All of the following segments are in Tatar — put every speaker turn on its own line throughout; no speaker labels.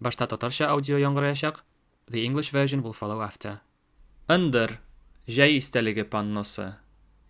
Башта татарча аудио яңгыраячак, the English version will follow after. Ындыр, җәй истәлеге панносы,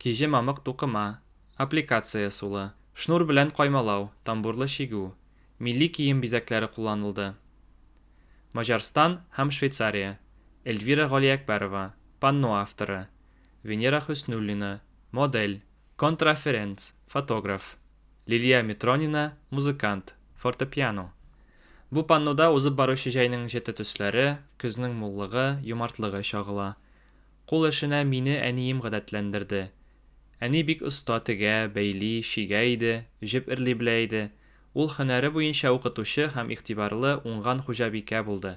киҗе мамык тукыма, аппликация сулы, шнур белән каймалау, тамбурлы чигү, милли кием бизәкләре кулланылды. Маҗарстан һәм Швейцария, Эльвира Галиәкбәрова, панно авторы, Венера Хөснуллина, модель, Контраференц, фотограф. Лилия Митронина, музыкант, фортепиано. Бу паннода узып баручы җәйнең җете төсләре, көзнең муллыгы, юмартлыгы чагыла. Кул эшенә мине әнием гадәтләндерде. Әни бик оста тегә, бәйли, чигә иде, җеп эрли белә иде. Ул һөнәре буенча укытучы һәм игътибарлы, уңган хуҗабикә булды.